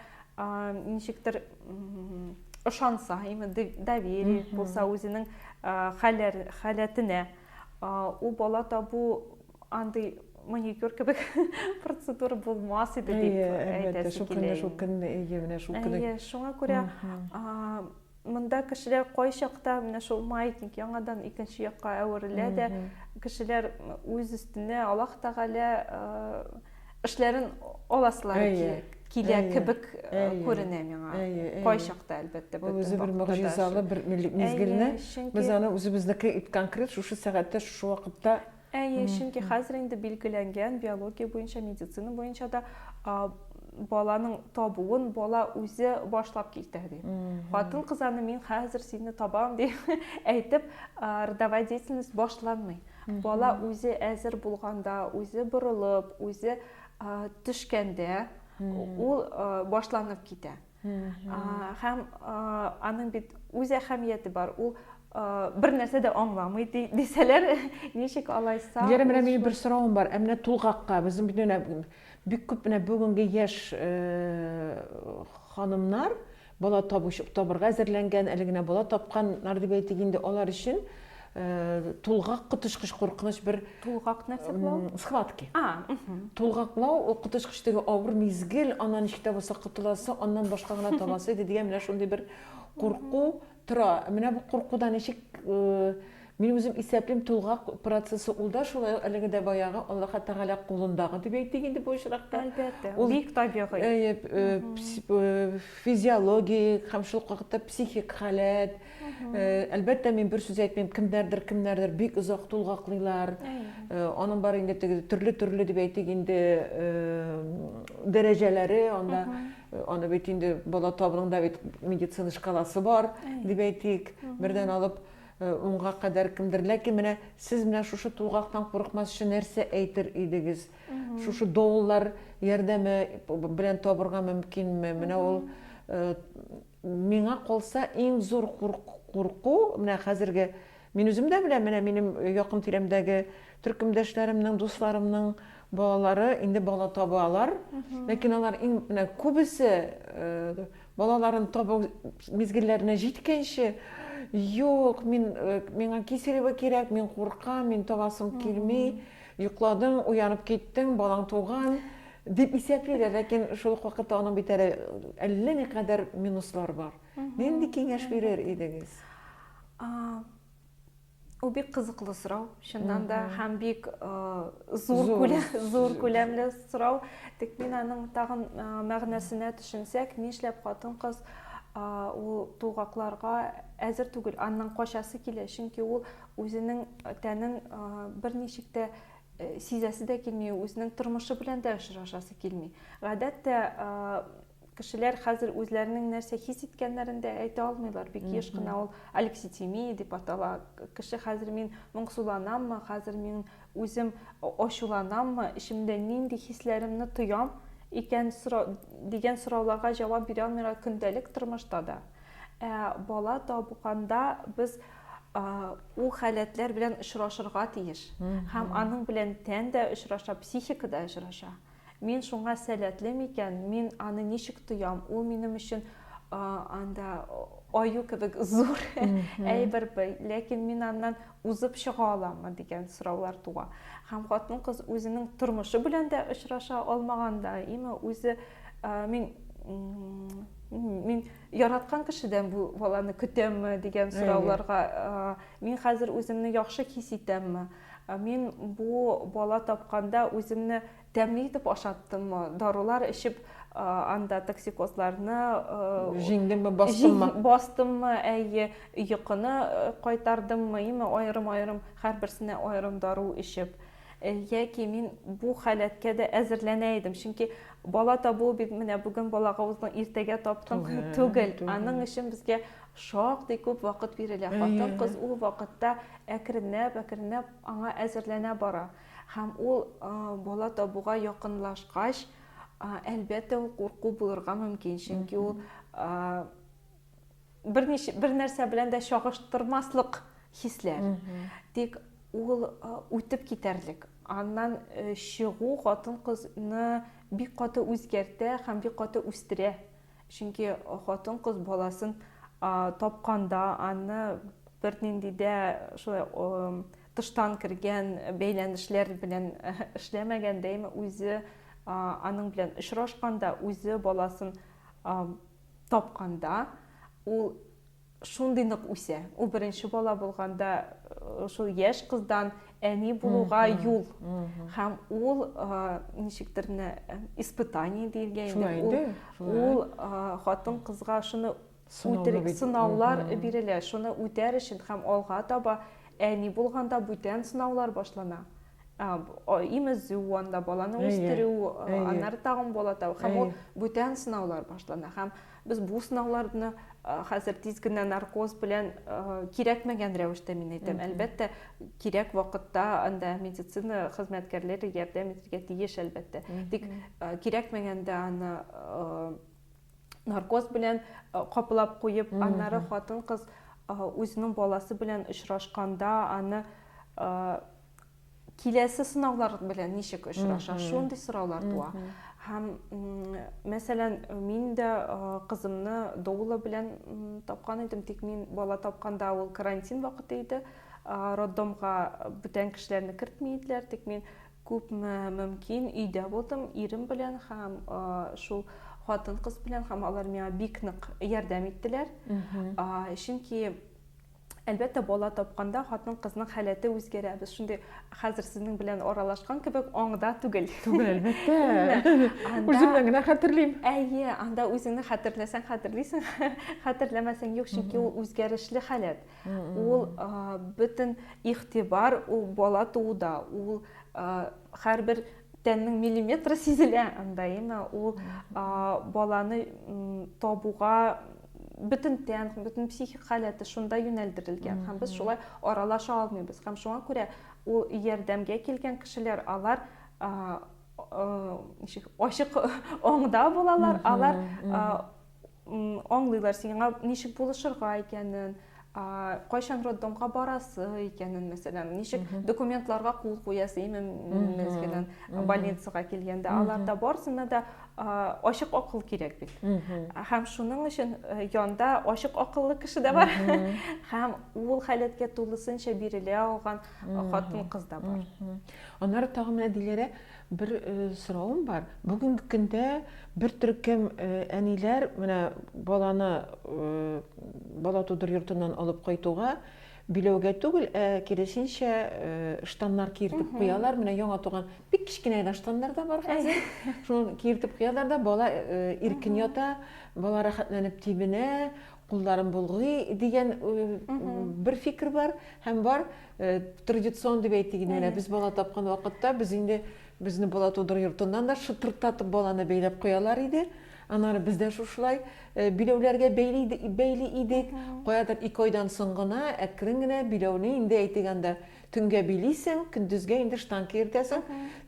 ничектер ышанса, доверие булса үзенең халәтенә, ул бала табу андый маникюр кебек процедура булмас иде дип әйтәсе килә. Әйе, шул көнне, шул көнне, әйе, менә шул көнне. Әйе, шуңа күрә Монда кешеләр кайчакта менә шул маятник яңадан икенче якка әверелә дә, кешеләр үз өстенә Аллаһ Тәгалә эшләрен аласылары әйе, килә әйе, кебек әйе, күренә миңа. Әйе, әйе. Кайчакта әлбәттә бу үзе бер мөгъҗизалы бер мизгелне без аны үзебезнеке ит конкрет шушы сәгатьтә шушы вакытта Әйе, чөнки хәзер инде билгеләнгән биология буенча, медицина буенча да баланың табуын бала үзе башлап китә ди. Хатын кыз аны мин хәзер сине табам дип әйтеп, родовая деятельность башланмый. Бала үзе әзер булганда, үзе борылып, үзе төшкәндә ул башланып китә. Һәм аның бит үз әһәмияте бар. Ул бер нәрсә дә аңламый дисәләр, ничек алайса? Диләрә, менә минем бер соравым бар. Ә менә тулгакка, безнең бит менә бик күп менә бүгенге яшь ханымнар бала табыш табырга әзерләнгән, әле генә бала тапканнар дип әйтик инде, алар өчен тулгак коточкыч куркыныч бер тулгак нәрсә булау схватки тулгаклау ул коточкыч теге авыр мизгел аннан ничек тә булса котыласы аннан башка гына табасы иде дигән менә шундый бер курку тора менә бу куркуда ничек мин үзем исәплим тулгак процессы ул да шулай әлеге дә баягы аллаһы тәгалә кулындагы дип әйтик инде бу очракта әлбәттә ул бик табигый физиологик һәм шул вакытта психик халәт Әлбәттә, мин бер сүз әйтмим, кемнәрдер, кемнәрдер бик озак тулгаклыйлар. Аның бар инде теге төрле-төрле дип әйтик инде дәрәҗәләре, анда аны бит инде бала табыныңда бит медицина шкаласы бар дип әйтик. Бердән алып унга кадәр кемдер. Ләкин менә сез менә шушы тулгактан курыкмасчы нәрсә әйтер идегез? Шушы доулар ярдәме белән табырга мөмкинме? Менә ул Миңа калса, иң зур курку, менә хәзерге, мин үзем дә беләм, менә минем якын тирәмдәге төркемдәшләремнең, дусларымның балалары инде бала табалар, ләкин алар менә күбесе балаларын табу мизгелләренә җиткәнче, Юк, мин, миңа киселеве кирәк, мин куркам, мин табасым килми, йокладың, уянып киттең, балаң туган. Дип исәпли дә, ләкин шул ук вакытта аның бит әле әллә никадәр минуслар бар. Нинди киңәш бирер идегез? Ул бик кызыклы сорау, чыннан да, һәм бик зур күләм, зур күләмле сорау. Тик мин аның тагын мәгънәсенә төшенсәк, нишләп хатын-кыз ул тулгакларга әзер түгел, аннан качасы килә, чөнки ул үзенең тәнен берничек тә сизәсе дә килми, үзенең тормышы белән дә очрашасы килми. Гадәттә кешеләр хәзер үзләренең нәрсә хис иткәннәрен дә әйтә алмыйлар. Бик еш кына ул алекситимия дип атала. Кеше хәзер мин моңсуланаммы, хәзер мин үзем ачуланаммы, эчемдә нинди хисләремне тоям икән сорау, дигән сорауларга җавап бирә алмыйлар көндәлек тормышта да. Ә бала табуканда без ул халәтләр белән очрашырга тиеш һәм аның белән тән дә очраша психика да очраша мин шуңа сәләтле микән мин аны ничек тоям ул минем өчен анда аю кебек зур әйбер ләкин мин аннан узып чыга аламмы дигән сораулар туа һәм хатын кыз үзенең тормышы белән дә очраша алмаганда име үзе мин мин Яраткан кешедән бу баланы көтәмме дигән сорауларга мин хәзер үземне яхшы хис итәмме? Мин бу бала тапканда үземне тәмле итеп ашаттыммы? Дарулар эчеп анда токсикозларны җиңдемме, бастыммы? Бастыммы, әйе, йокыны кайтардыммы, именно аерым-аерым һәрберсенә аерым дару эчеп. Э, яки мин бу халәткә дә әзерләнә идем чөнки бала табу бит менә бүген балага уздың иртәгә таптың түгел аның өчен безгә шактый күп вакыт бирелә хатын кыз ул вакытта әкренләп әкренләп аңа әзерләнә бара һәм ул э, бала табуга якынлашкач э, әлбәттә ул курку булырга мөмкин чөнки ул берничә бернәрсә белән дә чагыштырмаслык хисләр. Тик ул үтеп китәрлек. Аннан чыгу хатын-кызны бик каты үзгәртә һәм бик каты үстерә. Чөнки хатын-кыз баласын тапканда, аны бернинди дә шулай тыштан кергән бәйләнешләр белән эшләмәгәндә, үзе аның белән очрашканда, үзе баласын тапканда ул шундый нык үсә. Ул беренче бала булганда э, шул яшь кыздан әни булуга юл. Һәм ул э, ничектер менә э, испытание диелгән инде. Ул хатын кызга шуны үтерик сынаулар бирелә. Шуны үтәр өчен һәм алга таба әни булганда бүтән сынаулар башлана. имезү анда баланы үстерү аннары тагын бала табу һәм ул бүтән сынаулар башлана һәм без бу сынауларны хәзер тиз генә наркоз белән кирәкмәгән рәвештә мин әйтәм әлбәттә кирәк вакытта анда медицина хезмәткәрләре ярдәм итәргә тиеш әлбәттә тик кирәкмәгәндә аны наркоз белән каплап куеп, аннары хатын-кыз үзенең баласы белән очрашканда аны киләсе сынаулар белән ничек очраша, шундый сораулар туа. Һәм, мәсәлән, мин дә кызымны доула белән тапкан идем, тик мин бала тапканда ул карантин вакыты иде. Роддомга бүтән кешеләрне кертми иделәр, тик мин Күпме мөмкин өйдә булдым, ирем белән һәм шул хатын-кыз белән һәм алар миңа бик нык ярдәм иттеләр. Чөнки Әлбәттә, бала тапканда хатын-кызның халәте үзгәрә. Без шундый хәзер сезнең белән аралашкан кебек аңда түгел. Түгел, әлбәттә. Үземнән генә хәтерлим. Әйе, анда үзеңне хәтерләсәң, хәтерлисең, хәтерләмәсәң юк, чөнки ул үзгәрешле халәт. Ул бөтен игътибар ул бала тууда, ул һәрбер тәннең миллиметры сизелә анда, яме ул баланы табуга бөтен тән, бөтен психик халәте шунда юнәлдерелгән. Һәм без шулай аралаша алмыйбыз. Һәм шуңа күрә ул ярдәмгә килгән кешеләр, алар ачык аңда булалар, алар аңлыйлар сиңа ничек булышырга икәнен кайчан роддомга барасы икәнен мәсәлән ничек документларга кул куясы именно больницага килгәндә аларда барысына да ачык акыл кирәк бит һәм шуның өчен э, янда ачык акыллы кеше дә бар һәм ул халәткә тулысынча бирелә алган хатын кыз да бар аннары тагын менә диләрә Бер соравым бар. Бүгенге көндә бер төркем әниләр менә баланы бала тудыр йортыннан алып кайтуга биләүгә түгел, ә киресенчә штаннар киертеп куялар. Менә яңа туган бик кечкенә генә штаннар да бар хәзер. Шуны киертеп куялар да, бала иркен ята, бала рәхәтләнеп тибенә, кулларын болгый дигән бер фикер бар һәм бар традицион дип әйтик инде менә без бала тапкан вакытта без инде безне бала тудыру йортыннан да шытырдатып баланы бәйләп куялар иде аннары без дә шушылай биләүләргә бәйли бәйли идек каядыр ике айдан соң гына әкрен генә биләүне инде әйтик анда Төнгә билисең, көндезгә инде штанка йөртәсең.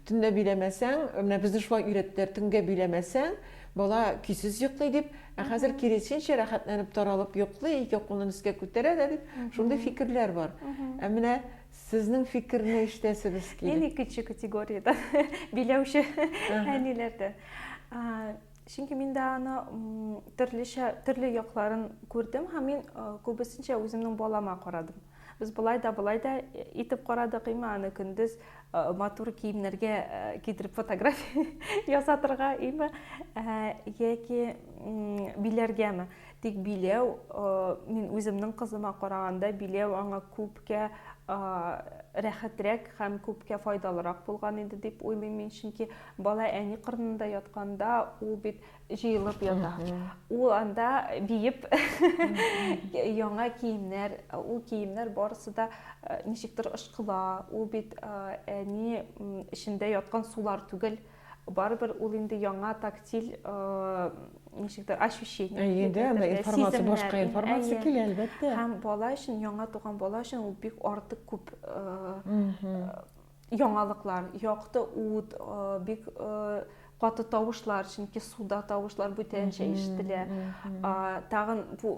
Төнлә биләмәсәң, менә безне шулай өйрәттеләр, төнгә биләмәсәң, бала көйсез йоклый дип, ә хәзер киресенчә рәхәтләнеп таралып йоклый, ике кулын өскә күтәрә дә дип, шундый фикерләр бар. Ә менә сезнең фикерне ишетәсебез килә. Мин икенче категориядә, биләүче әниләрдә. Чөнки мин дә аны төрлечә, төрле якларын күрдем һәм мин күбесенчә үземнең балама карадым. Без болай да, болай да итеп карадык, име аны көндез матур киемнәргә кидереп фотография ясатырга, име яки биләргәме. Тик биләү, мин үземнең кызыма караганда, биләү аңа күпкә рәхәтрәк һәм күпкә файдалырак булган иде дип уйлыйм мин, чөнки бала әни кырынында ятканда, ул бит җыелып ята. Ул анда биеп яңа киемнәр, ул киемнәр барысы да э, ничектер ышкыла. Ул бит э, әни эчендә яткан сулар түгел. Барыбер ул инде яңа тактиль э, ничектер ощущение. Әйе, анда информация, башка информация килә, әлбәттә. Һәм бала өчен, яңа туган бала өчен ул бик артык күп яңалыклар, якты ут, бик каты тавышлар, чөнки суда тавышлар бүтәнчә ишетелә. Тагын бу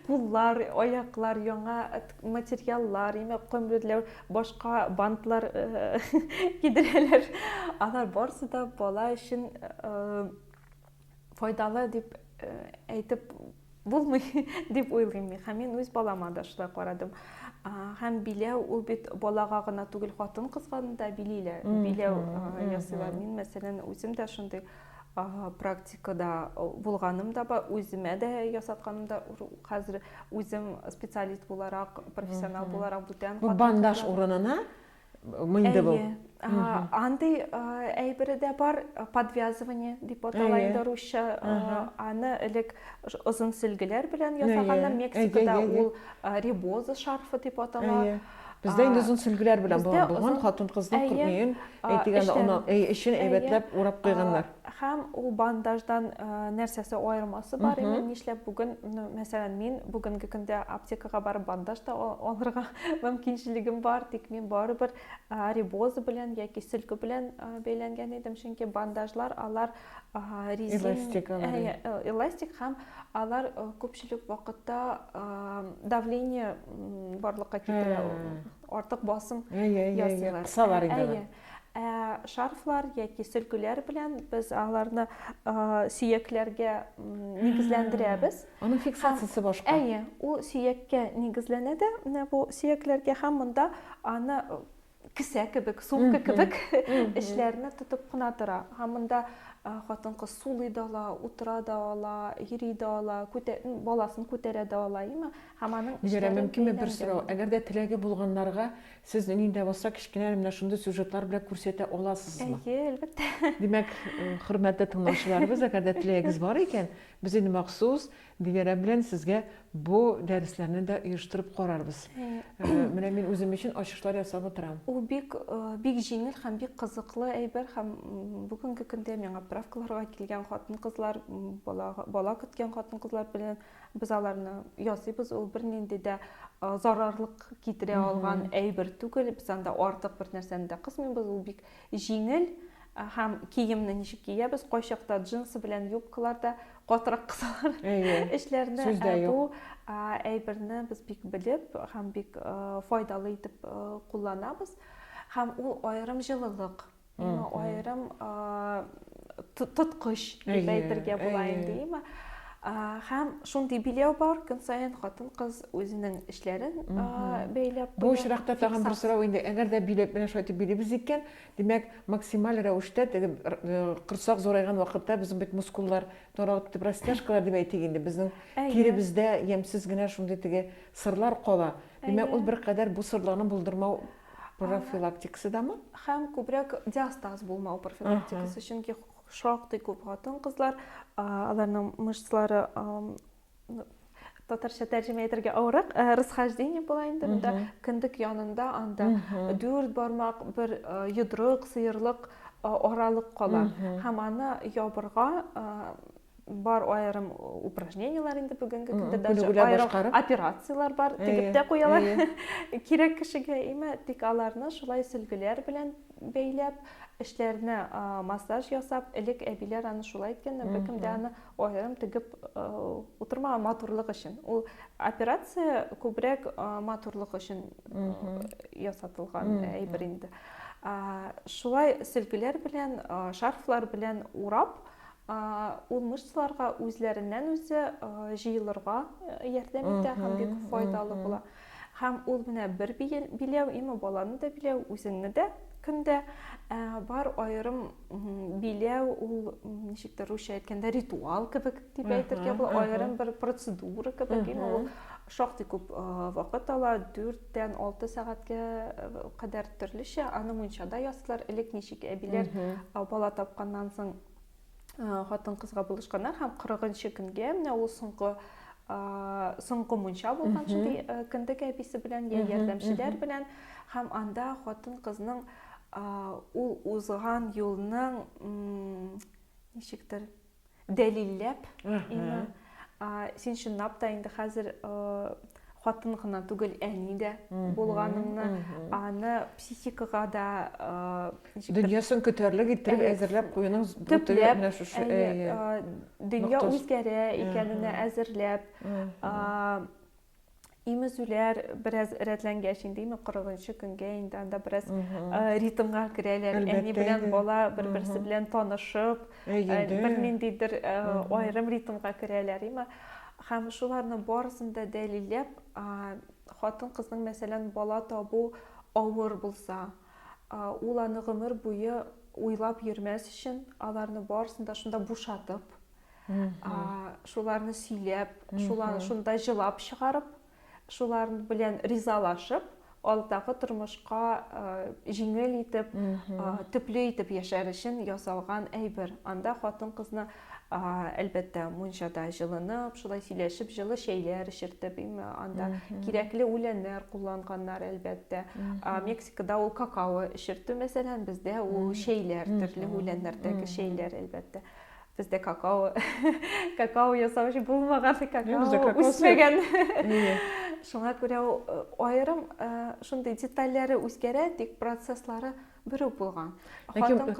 куллар, аяклар, яңа материаллар, имә көмбедләр, башка бантлар кидерәләр. Алар барсы да бала өчен файдалы дип э, әйтеп булмый дип уйлыйм мин һәм мин үз балама да шулай карадым һәм биләү ул бит балага гына түгел хатын кызга да билиләр биләү ясыйлар мин мәсәлән үзем дә шундый практикада булганым да бар үземә дә ясатканым да хәзер үзем специалист буларак профессионал буларак бүтән бандаж урынына Инде бу. Андый әйбере дә бар, подвязывание дип атала инде русча. Аны элек озын сөлгеләр белән ясаганнар. Мексикада ул ребоза шарфы дип атала. Бездә инде озын сөлгеләр белән булган хатын-кызның күрмәен, әйтегәндә, аны өй эчен әйбәтләп урап куйганнар. Һәм ул бандаждан нәрсәсе аермасы бар иде, нишләп бүген, мәсәлән, мин бүгенге көндә аптекага барып бандаж та алырга мөмкинчелегем бар, тик мин барыбер рибоза белән яки сөлке белән бәйләнгән идем, чөнки бандажлар алар резин эластик, э, эластик һәм алар күпчелек вакытта давление барлыкка китерә, артык басым ясыйлар. Кысалар инде. Ә шарфлар яки сөлгеләр белән без аларны сөякләргә нигезләндерәбез. Аның фиксациясе башка. Әйе, ул сөяккә нигезләнә дә менә бу сөякләргә һәм монда аны кесә кебек, сумка кебек эшләрне тотып кына тора. Һәм монда хатын-кыз сулый да ала, утыра да ала, йөри дә ала, баласын күтәрә дә ала, әйеме? Һәм аның Диләрә, мөмкинме бер сорау? Әгәр дә теләге булганнарга Сез нинди дә булса кечкенә әле менә шундый сюжетлар белән күрсәтә аласызмы? Әйе, әлбәттә. Димәк, э, хөрмәтле тыңлаучыларыбыз, әгәр дә теләгегез бар икән, без инде махсус Диләрә белән сезгә бу дәресләрне дә оештырып карарбыз. Э, менә мин үзем өчен ачышлар ясап утырам. Ул бик э, бик җиңел һәм бик кызыклы әйбер һәм бүгенге көндә миңа правкаларга килгән хатын-кызлар, бала бала көткән хатын-кызлар белән Без аларны ясыйбыз, ул бернинди дә зарарлык китерә алган әйбер түгел. Без анда артык бер нәрсәне дә кысмыйбыз, ул бик җиңел һәм киемне ничек киябез, кайчакта джинсы белән юбкалар да катырак кысалар эшләрне. Бу әйберне без бик белеп һәм бик файдалы итеп кулланабыз һәм ул аерым җылылык Аңа аерым тоткыч дип әйтергә була инде, әйме? Һәм шундый билеу бар, көн саен хатын-кыз үзенең эшләрен бәйләп Бу очракта тагын бер сорау инде, әгәр дә билет белән шулай итеп билибез икән, димәк, максималь рәвештә теге корсак зурайган вакытта безнең бит мускуллар таралып китеп, растяжкалар дип әйтик инде, безнең тиребездә ямьсез генә шундый теге сырлар кала. Димәк, ул беркадәр бу сырларны булдырмау Профилактикасы дамы? Һәм күбрәк диастаз булмау профилактикасы, чөнки шактый күп хатын-кызлар, аларның мышцлары татарча тәрҗемә итәргә авырак э, расхождение була инде монда кендек янында анда дүрт бармак бер э, йодрык сыерлык э, аралык кала һәм аны ябырга бар аерым упражненияләр инде бүгенге көндә даже аерым операцияләр бар тегеп тә куялар кирәк кешегә имә тик аларны шулай сөлгеләр белән бәйләп эшләренә массаж ясап элек әбиләр аны шулай иткән беркем дә аны аерым тегеп утырмаган матурлык өчен ул операция күбрәк матурлык өчен ясатылган әйбер инде шулай сөлгеләр белән шарфлар белән урап Ул мышцаларга үзләреннән-үзе җыелырга ярдәм итә һәм бик файдалы була. Һәм ул менә бер биләү, именно баланы да биләү, үзеңне дә көндә бар аерым биләү, ул ничектер русча әйткәндә ритуал кебек дип әйтергә була, аерым бер процедура кебек, именно ул шактый күп вакыт ала, 4-тән 6 сәгатькә кадәр төрлечә, аны мунчада ясыйлар, элек ничек әбиләр бала тапканнан соң хатын кызга булышканнар һәм кырыгынчы көнгә менә ул соңгы соңгы мунча булган шундый кендек әбисе белән я ярдәмчеләр белән һәм анда хатын кызның ул узган юлның ничектер дәлилләп син чынлап та инде хәзер хатын гына түгел, әни дә булганымны, аны психикага да ничек дөньясын көтәрлек иттереп әзерләп куюның төпләп менә шушы дөнья үзгәрә икәненә әзерләп имезүләр бераз рәтләнгәч инде име кырыгынчы көнгә инде анда бераз ритмга керәләр әни белән бала бер берсе белән танышып бер ниндидер аерым ритмга керәләр име Һәм шуларның барысын да дәлилләп, хатын-кызның, мәсәлән, бала табу авыр булса, ул аны гомер буе уйлап йөрмәс өчен, аларны барысын да шунда бушатып, шуларны сөйләп, шуларны шунда җылап чыгарып, шулар белән ризалашып, алдагы тормышка җиңел итеп, төпле итеп яшәр өчен ясалган әйбер. Анда хатын-кызны әлбәттә мунчада җылынып, шулай сөйләшеп, җылы чәйләр эчертеп, анда кирәкле үләннәр кулланганнар, әлбәттә. Мексикада ул какао эчертү мәсәлән, бездә ул чәйләр, төрле үләннәрдәге чәйләр, әлбәттә. Бездә какао, какао ясаучы булмаган, какао үсмәгән. Шуңа күрә аерым шундый детальләре үзгәрә, тик процесслары бер үк булган. Ләкин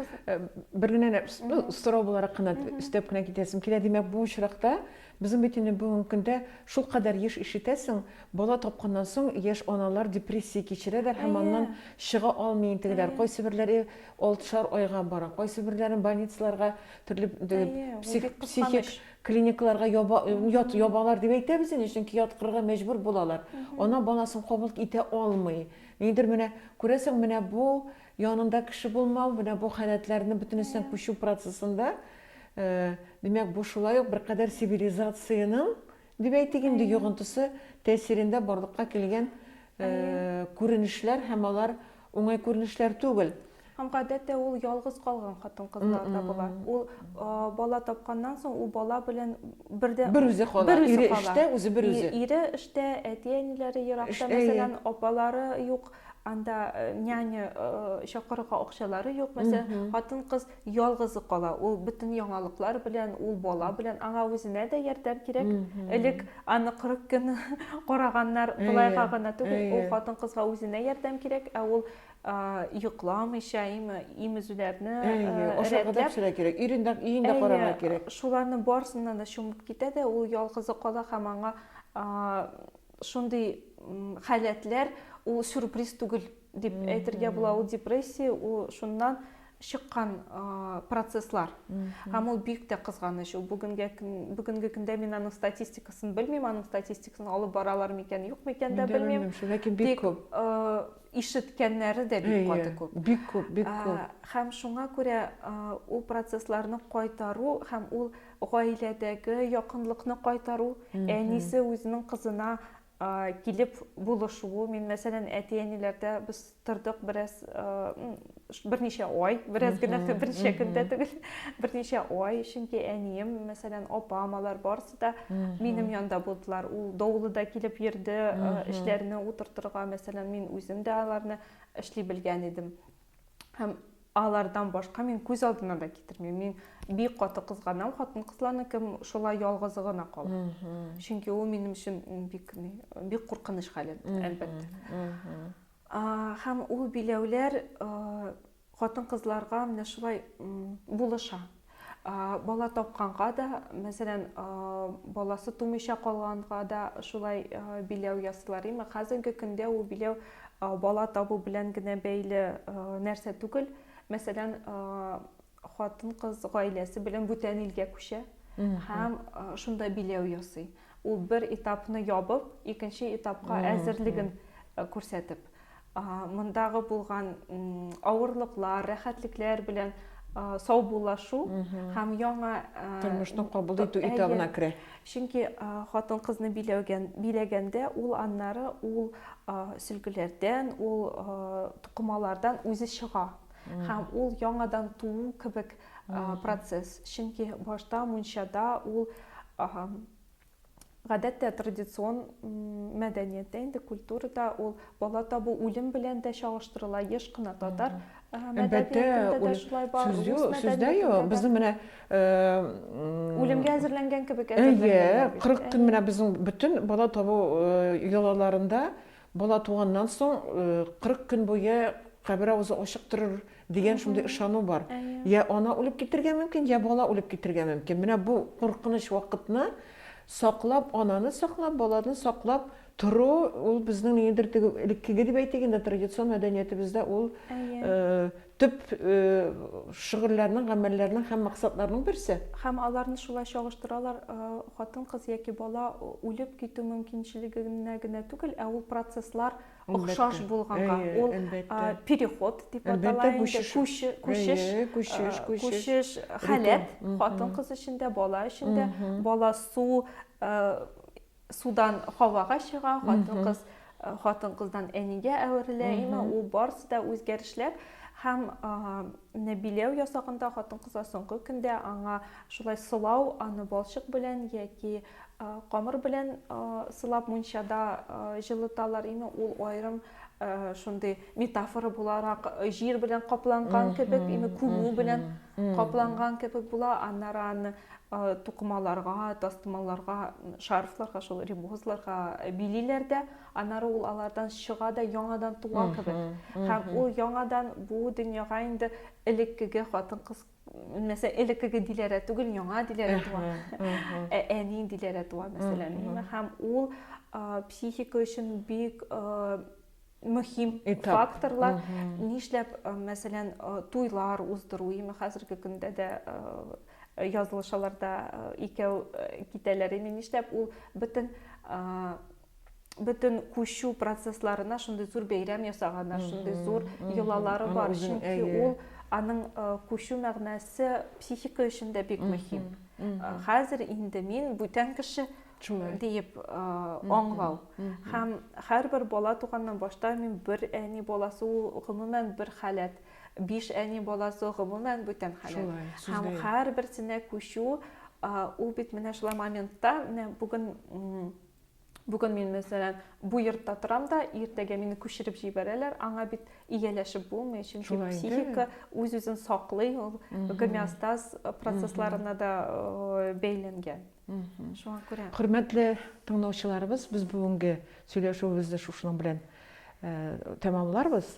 бер генә ну сорау буларак кына өстәп кенә китәсем килә. Димәк, бу очракта безнең бит инде бүгенге көндә шул кадәр еш ишетәсең, бала тапканнан соң яшь аналар депрессия кичерәләр һәм аннан чыга алмый интегеләр. Кайсы берләре Алтышар айга бара. Кайсы берләрен больницаларга, төрле психик клиникаларга яба, ят, ябалар дип әйтәбез инде, чөнки яткырырга мәҗбүр булалар. Ана баласын кабул итә алмый. Нидер менә, күрәсең, менә бу янында кеше булмау, менә бу халәтләрне бөтенесен күчү процессында, димәк, бу шулай ук беркадәр цивилизациянең, дип әйтик инде, йогынтысы тәэсирендә барлыкка килгән күренешләр һәм алар Уңай күренешләр түгел. Һәм гадәттә ул ялгыз калган хатын-кызларда була. Ул бала тапканнан соң ул бала белән бердә бер үзе кала. Ире эштә, үзе бер үзе. Ире эштә, әти-әниләре еракта, мәсәлән, апалары юк, анда няня чакырырга акчалары юк. Мәсәлән, хатын-кыз Ялгызы кала, ул бөтен яңалыклар белән, ул бала белән, аңа үзенә дә ярдәм кирәк. Элек аны 40 көн караганнар, болайга гына түгел, ул хатын-кызга үзенә ярдәм кирәк, ә ул йокламыйча, имезүләрне рәтләп, өендә карарга кирәк. Шуларның барысына да чумып китә дә, ул ялгызы кала һәм аңа шундый халәтләр, ул сюрприз түгел. Дип әйтергә була, ул депрессия, ул шуннан чыккан процесслар. Һәм ул бик тә кызганыч. Ул бүгенгә бүгенге көндә мин аның статистикасын белмим, аның статистикасын алып баралар микән, юк микән дә белмим. Ләкин бик күп. Ишеткәннәре дә бик каты күп. Бик күп, бик күп. Һәм шуңа күрә ул процессларны кайтару һәм ул гаиләдәге якынлыкны кайтару, әнисе үзенең кызына килеп булышуы мин мәсәлән әти әниләрдә без тордык бераз берничә ай бераз генә берничә көндә түгел берничә ай чөнки әнием мәсәлән апам алар барысы да минем янда булдылар ул давылыда килеп йөрде эшләрне утыртырга мәсәлән мин үзем дә аларны эшли белгән идем һәм алардан башка мин күз алдына да китермим мин бик каты кызганам хатын кызларны кем шулай ялгызы гына кала чөнки ул минем өчен бик бик куркыныч хәлет әлбәттә һәм ул биләүләр хатын кызларга менә шулай булыша Бала тапканга да, мәсәлән, баласы тумыйча калганга да шулай биләү ясыйлар. Имма хәзерге көндә ул биләү бала табу белән генә бәйле нәрсә түгел. Мәсәлән, хатын-кыз гаиләсе белән бүтән илгә күчә һәм шунда биләү ясый. Ул бер этапны ябып, икенче этапка әзерлеген күрсәтеп. мондагы булган авырлыклар, рәхәтлекләр белән саубуллашу һәм яңа тормышны кабул итү этабына керә. Чөнки хатын-кызны биләгән, биләгәндә ул аннары ул сөлгеләрдән, ул тукымалардан үзе чыга һәм ул яңадан туу кебек процесс. Чөнки башта мунчада ул Гадәттә традицион мәдәнияттә инде культурада ул бала табу үлем белән дә чагыштырыла. Еш кына татар мәдәниятендә дә шулай бар. Сүз юк, сүз дә юк. Безнең менә үлемгә әзерләнгән кебек әзерләнгән. Әйе, 40 көн менә безнең бөтен бала табу йолаларында Бала туганнан соң 40 көн буе кабер авызы ачык торыр дигән шундый ышану бар. Я ана үлеп китергә мөмкин, я бала үлеп китергә мөмкин. Менә бу куркыныч вакытны саклап, ананы саклап, баланы саклап тору, ул безнең ниндидер теге элеккеге дип әйтик инде, традицион мәдәниятебездә ул Төп шөгыльләрнең, гамәлләрнең һәм максатларның берсе. Һәм аларны шулай чагыштыралар, хатын-кыз яки бала үлеп китү мөмкинчелегенә генә түгел, ә ул процесслар охшаш булганга, ул переход дип атала инде, күчеш, күчеш, күчеш, халәт, хатын-кыз өчен дә, бала өчен дә, бала су, Судан һавага чыга, хатын-кыз хатын-кыздан әнигә әверелә, имә ул барысы да үзгәрешләр һәм нәбиләү ясагында хатын-кызга соңгы көндә аңа шулай сылау, аны балчык белән яки камыр белән сылап мунчада җылыталар, имә ул аерым шундый метафора буларак җир белән капланган кебек ими күмү белән капланган кебек була аннары аны тукымаларга тастымаларга шарфларга шул рибозларга билиләр дә аннары ул алардан чыга да яңадан туа кебек һәм ул яңадан бу дөньяга инде элеккеге хатын кыз Мәсә элеккеге диләрә түгел, яңа диләрә туа. Ә әни диләрә туа, мәсәлән. Һәм ул психика өчен бик мөһим факторлар. Нишләп, мәсәлән, туйлар уздыру, име хәзерге көндә дә язылышаларда икәү китәләр, име нишләп ул бөтен бөтен күчү процессларына шундый зур бәйрәм ясаганнар, шундый зур йолалары бар. Чөнки ул аның күчү мәгънәсе психика өчен дә бик мөһим. Хәзер инде мин бүтән кеше диеп аңлау. Һәм һәрбер бала туганнан башта мин бер әни баласы ул гомумән бер халәт. Биш әни баласы гомумән бүтән халәт. Һәм һәрберсенә күчү ул бит менә шулай моментта, менә бүген Бүген мин, мәсәлән, бу йортта торам да, иртәгә мине күчереп җибәрәләр, аңа бит ияләшеп булмый, чөнки психика үз-үзен саклый, ул гомеостаз процессларына да э, бәйләнгән. Шуңа күрә. Хөрмәтле тыңлаучыларыбыз, без бүгенге сөйләшүебезне шушының белән э, тәмамларбыз.